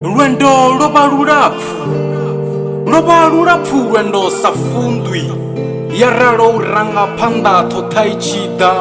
lwendo lwo vha lulapfu lwo vha lulapfu lwendo sa fundwi ya ralo u ranga phanḓa ṱhoṱha i tshi ḓa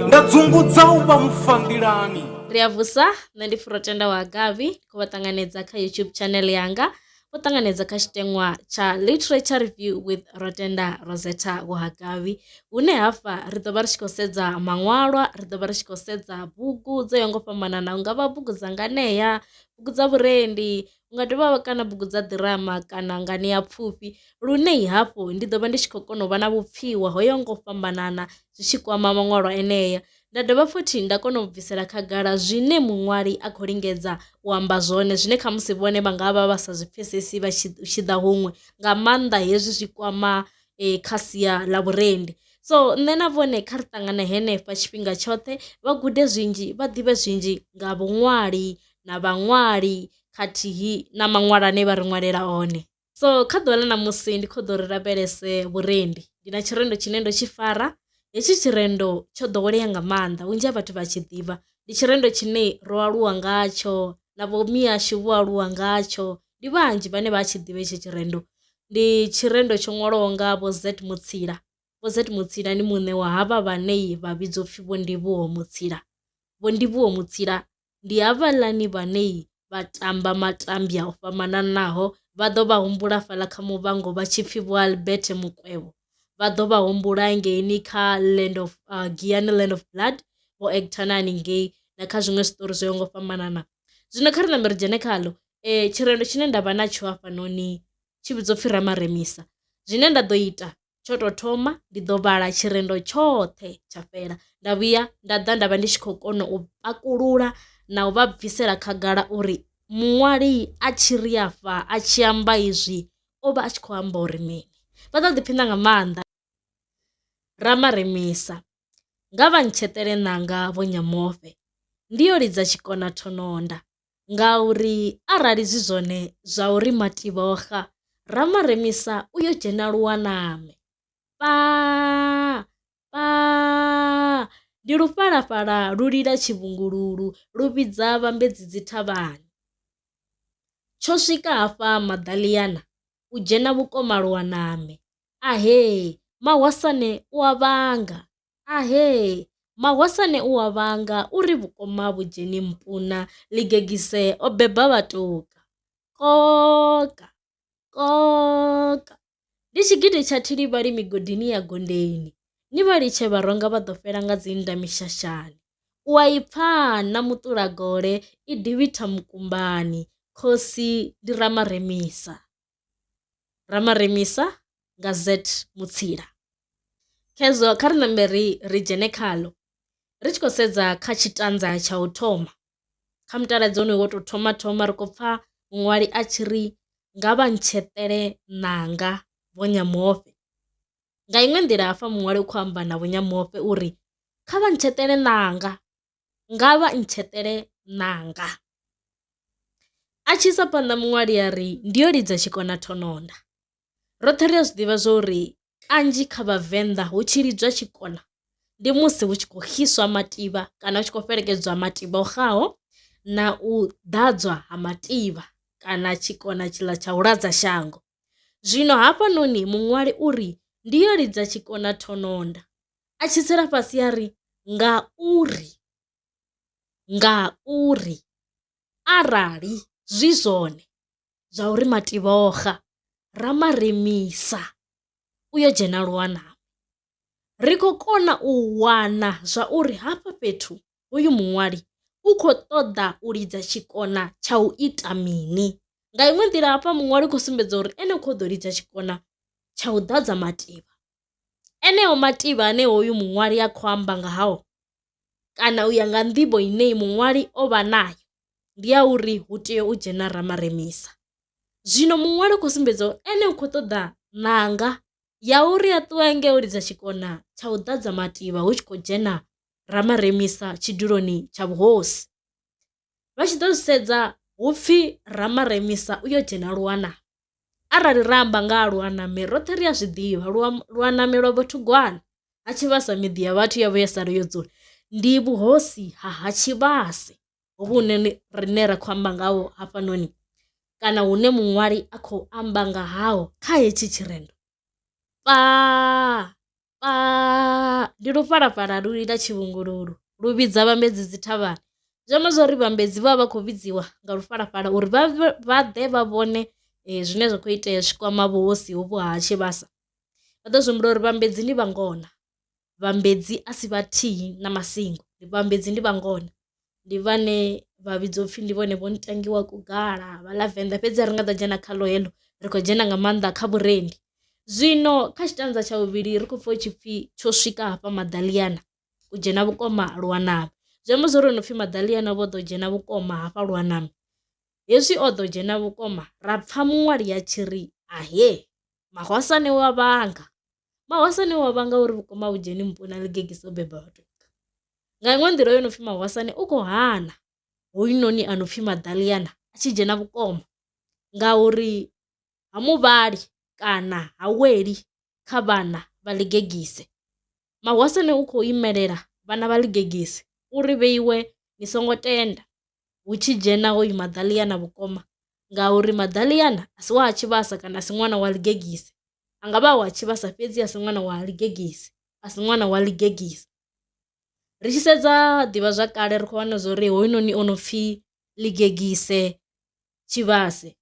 nda dzungudza u vha mufandilani ri a vusa nṋe ndi furotenda wa gavi khou vha ṱanganedza kha youtube channel yanga vho ṱanganedza kha tshiteṅwa tsha literature review with rotenda rosetta wahagavi hune hafha ri ḓo vha ri tshi khou sedza maṅwalwa ri ḓo vha ri tshi khou sedza bugu dzo yaho nga u fhambanana hu nga vha bugu dza nganea bugu dza vhurendi unga dovha wa kana bugu dza ḓirama kana nganeapfufhi lune hafhu ndi ḓo vha ndi tshi khou kona u vha na vhupfhiwa ho yaho nga u fhambanana zwi tshi kwama maṅwalo enea. Nda dovha futhi nda kona u bvisela khagala zwine muṅwali a khou lingedza u amba zwone zwine kha musi vhone vha nga vha vha sa zwi pfhesesi vha tshi ḓa huṅwe nga maanḓa hezwi zwi kwama kha sia ḽa vhurendi so nṋe na vhone kha ri ṱangana henefha tshifhinga tshoṱhe vha gude zwinzhi vha ḓivhe zwinzhi nga vhuṅwali na vhaṅwali khathihi na maṅwalo ane vha ri ṅwalela one. So kha ḓuvha ḽa ṋamusi ndi kho ḓo ri lavhelese vhurendi ndi na tshirendo tshine ndo tshi fara hetshi tshirendo tsho ḓowelea nga maanḓa vhunzhi ha vhathu vha tshi ḓivha ndi tshirendo tshine ro aluwa ngatsho na vho mihasho vho aluwa ngatsho ndi vhanzhi vhane vha tshi ḓivha hetshi tshirendo ndi tshirendo tsho ṅwalwaho nga vho Z Mutsila vho Z Mutsila ndi muṋe wa havha vhane vha vhidzwa upfhi vho Ndivhuwo Mutsila vho Ndivhuwo Mutsila ndi havhaḽani vhane vha tamba matambya o fhambananaho vha ḓo vha humbula hafhaḽa kha muvhango vha tshi pfhi vho Albert Mukwevho vha ḓo vha humbula ngeini kha Land of uh, Giyani Land of Blood vho actor na haningei na kha zwiṅwe zwiṱori zwo yaho nga u fhambanana zwino kha ri nambe ri dzhene khaḽo tshirendo tshine ndavha natsho hafhanoni tshi vhidzwa upfhi Ramaremisa zwine nda ḓo ita tsho tou thoma ndi ḓo vhala tshirendo tshoṱhe tsha fhela nda vhuya nda ḓa nda vha ndi tshi khou kona u pakulula na u vha bvisela khagala uri muṅwali a tshi ri afha a tshi amba izwi o vha a tshi khou amba uri mini. Vha ḓo ḓiphina nga maanḓa Ramaremisa nga vha ntsheṱele ṋanga vho Nyamofe ndi yo lidza tshikona thononda. ngauri arali zwi zwone zwa uri Mathiboga ra ma remisa u yo dzhena luwaname pa pa ndi lufhalafhala lu lila tshivhungululu lu vhidza vhambedzi dzi thavhani tsho swika hafha maḓaḽiana u dzhena vhukoma luwaname ahee mahwasane u a vhanga. Ahee! Mahosane u a vhanga u ri vhukoma vhu dzheni mpuna ḽigegise o beba vhatuka. Koka! Koka! Ndi tshigidi tsha thilivhali migodini ya Gondeni. Ni vha litshe vharonga vha ḓo fhela nga dzi nda mishashani. U a i pfa na muṱula gole i divhitha mukumbani, khosi ndi Ramaremisa. Ramaremisa nga Z Mutsila. Khezwo kha ri ṋambe ri ri dzhene khaḽo ri tshi khou sedza kha tshitanza tsha u thoma kha mutaladzi wonoyu wo tou thoma thoma ri khou pfha muṅwali a tshi ri nga vha ntsheṱele ṋanga vho Nyamofhe. Nga iṅwe nḓila hafha muṅwali u khou amba na vho Nyamofhe uri kha vha ntsheṱele ṋanga nga vha ntsheṱele ṋanga. A tshi isa phanḓa muṅwali a ri, ndi yo lidza tshikona thononda. Roṱhe ri a zwi ḓivha zwa uri kanzhi kha vhavenḓa hu tshi lidzwa tshikona ndi musi hu tshi khou xiswa mativha kana hu tshi khou fhelekedzwa mativha o xaho na u ḓadzwa ha mativha kana tshikona tshiḽa tsha u ladza shango. Zwino hafhanoni muṅwali uri ndi yo lidza tshikona thononda a tshi tsela fhasi a ri ngauri, ngauri arali zwi zwone zwa uri mativhoga ra ma remisa u yo dzhena luwanani ri khou kona u wana zwa uri hafha fhethu hoyu muṅwali u kho ṱoḓa u lidza tshikona tsha u ita mini. Nga iṅwe nḓila hafha muṅwali u khou sumbedza uri ene u kho ḓo lidza tshikona tsha u ḓadza mativha Eneo mativha ane hoyu muṅwali a khou amba nga hao kana u ya nga nḓivho ine muṅwali o vha nayo ndi ya uri hu tea u dzhena Ramaremisa. Zwino muṅwali u khou sumbedza uri ene u khou ṱoḓa ṋanga ya uri a ṱuwe a nge o lidza tshikona tsha u ḓadza mativha hu tshi khou dzhena Ramaremisa tshiduloni tsha vhuhosi. vha tshi ḓo zwi sedza hu pfhi Ramaremisa u yo dzhena lwana. Arali ra amba nga ha Lwaname roṱhe ri a zwi ḓivha lwa Lwaname lwa Bothugwana ha Tshivhasa miḓi ya vhathu ya vhuya sala yo dzula ndi vhuhosi ha ha Tshivhase hovhu hune rine ra kho amba ngaho hafhanoni kana hune muṅwali a khou amba nga haho kha hetshi tshirendo fhaa. Ndi lufhalafhala lu lila tshivhungululu lu vhidza vhambedzi dzi thavhani zwi amba zwori vhambedzi vha vha vha khou vhidziwa nga lufhalafhala uri vha vha ḓe vha vhone zwine zwa kho itea zwi kwama vhuhosi hovhu ha tshivhasa. Vha ḓo zwi humbula uri vhambedzi ndi vhangona vhambedzi a si vhathihi na masingo vhambedzi ndi vhangona. ndi vhane vha vhidzwa upfhi ndi vhone vho no tangiwa kugala vha ḽa venḓa fhedzi a ri nga ḓo dzhena khaḽo heḽo ri kho dzhena nga maanḓa kha vhurendi. Zwino kha tshitanza tsha vhuvhili ri khou pfha hu tshi pfhi tsho swika hafha maḓaḽiana u dzhena vhukoma ha lwanami zwi amba zwori hu no pfhi maḓaḽiana vho ḓo dzhena vhukoma hafha lwanami hezwi o ḓo dzhena vhukoma ra pfha muṅwali a tshi ri ahee mahwasane wa vhanga. Mahwasa ane wa vhanga uri vhukuma vhu dzheni muponi a ḽigegise dzo beba vhathu nga iṅwe nḓila yo no pfhi mahwasani u kho hana hoyunoni a no pfhi maḓaḽiana a tshi dzhena vhukoma nga uri ha muvhali kana ha weli kha vhana vha ḽigegise. Mahwasane u kho imelela vhana vha ḽigegise uri vhe iwe ni songo tenda. hu tshi dzhena hoyu maḓaḽiana vhukoma ngauri maḓaḽiana a si wa ha tshivhasa kana a si ṅwana wa ḽigegise a nga vha wa tshivhasa fhedzi a si ṅwana wa ḽigegise a si ṅwana wa ḽigegise. Ri tshi sedza ḓivhazwakale ri kho wana zwa uri hoyunoni o no pfhi ḽigegise tshivhase,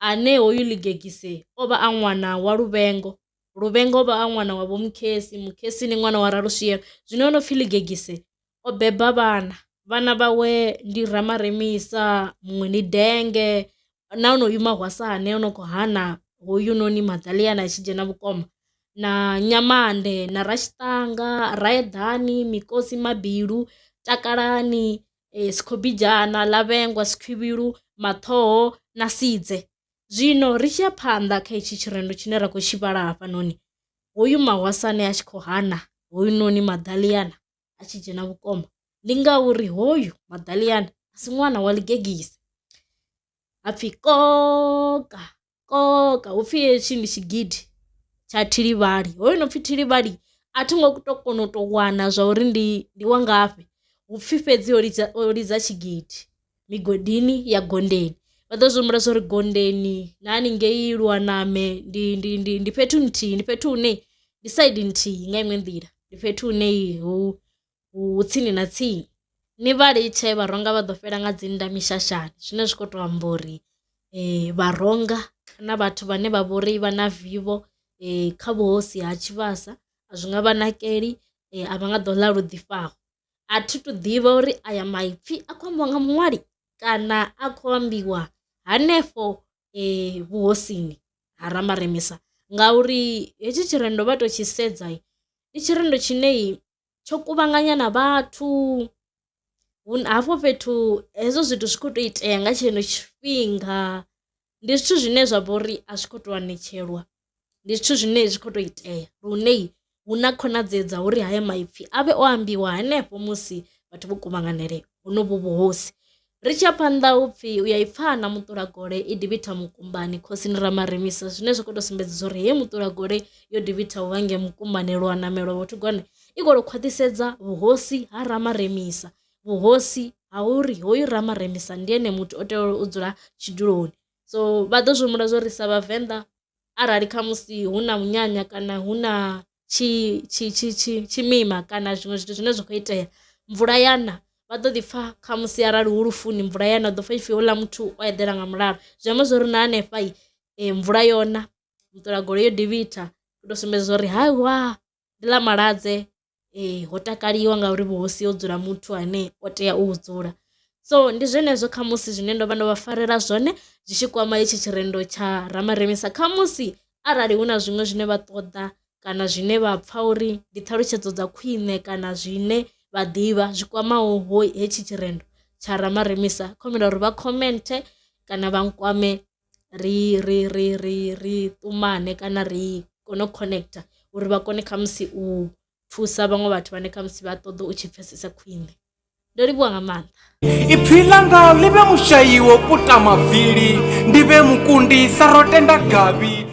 ane hoyu Ligegise o vha a ṅwana wa Luvhengo, Luvhengo o vha a ṅwana wa Vho Mukhesi, Mukhesi ndi ṅwana wa Raluswielo. Zwino ho no pfi Ligegise o beba vhana, vhana vhawe ndi Ramaremisa, muṅwe ndi Denge na onoyu Mahwasane o no khou hana hoyunoni Maḓaḽiana a tshi dzhena vhukoma na Nyamande na Rashidanga, Raeḓani, Mikosi, Mabilu, Takalani e, sikhobijana, lavhengwa, sikhwivhilu, maṱhoho na sidze. Zwino ri tshi ya phanḓa kha itshi tshirendo tshine ra khou tshi vhala hafhanoni, hoyu mahwasane a tshi khou hana hoyunoni maḓaliana a tshi dzhena vhukoma ndi ngauri hoyu maḓaliana a si ṅwana wa ḽigegise hapfi koka koka hupfhi hetshi ndi tshigidi tsha thilivhali hoyu no pfhi thilivhali a thi ngo to kona u to wana zwa uri ndi ndi wa ngafhi hupfhi fhedzi o lidza o lidza tshigidi migodini ya gondeni vha ḓo zwi humbula zwa uri gondeni na haningei lwaname ndi ndi ndi ndi fhethu nthihi ndi fhethu hune ndi side nthihi nga iṅwe nḓila ndi fhethu hune hu tsini na tsini ni vha litshe vharonga vha ḓo fhela nga dzi nnḓa mishashani zwine zwa kho to amba uri vharonga na vhathu vhane vha vhori vha na vivho kha vhuhosi ha tshivhasa a zwi nga vha nakeli a vha nga ḓo ḽa lu ḓifhaho. A thi thu ḓivha uri aya maipfhi a kho ambiwa nga muṅwali kana a kho ambiwa hanefho vhuhosini ha Ramaremisa ngauri hetshi tshirendo vha to tshi sedza ndi tshirendo tshine tsho kuvhanganya na vhathu hafho fhethu hezwo zwithu zwi kho to itea nga tshenetsho tshifhinga ndi zwithu zwine zwa vha uri a zwi kho to anetshelwa ndi zwithu zwine zwi kho to itea lune hu na khonadzeo dza uri haya maipfhi avhe o ambiwa hanefho musi vhathu vho kuvhanganele honovhu vhuhosi. Ri tshi ya phanḓa hu pfhi u ya i pfha na muṱula gole i divhitha mukumbani khosini Ramaremisa zwine zwa khou tou sumbedza zwa uri heyi muṱula gole yo divhitha u vhange mukumbani lwa namelwa vhathu gone i khou tou khwaṱhisedza vhuhosi ha Ramaremisa vhuhosi ha uri hoyu Ramaremisa ndi ene muthu o tea u dzula tshiduloni so vha ḓo zwi humbula zwa uri sa vhavenḓa arali khamusi hu na munyanya kana hu na tshi tshi tshi tshi tshimima kana zwiṅwe zwithu zwine zwa kho itea mvula yana vha ḓo ḓi pfha khamusi arali hu lufuni mvula ya na u ḓo pfha ipfhi houḽa muthu o eḓela nga mulalo zwi amba zwori na hanefha mvula yona u ṱola goloi yo devhitha u to sumbedza uri hai wa. ndi ḽa malwadze ho takaliwa ngauri vhuhosi ho dzula muthu ane o tea u dzula. So ndi zwenezwo khamusi zwine ndo vha ndo vha farela zwone zwi tshi kwama hetshi tshirendo tsha Ramaremisa khamusi arali hu na zwiṅwe zwine vha ṱoḓa kana zwine vha pfha uri ndi ṱhalutshedzo dza khwiṋe kana zwine vha ḓivha zwi kwamaho hetshi tshirendo tsha Ramaremisa kho humbela uri vha comment kana vha nkwame. ri ri ri ri ri ṱumane kana ri kone u connecter uri vha kone khamusi u thusa vhaṅwe vhathu vhane khamusi vha ṱoḓa u tshi pfhesesa khwiṋe ndo livhuwa nga maanḓa ipfi langa ḽi vhe mushayi wo puta mavili ndi vhe mukundi sa ro tenda gavhi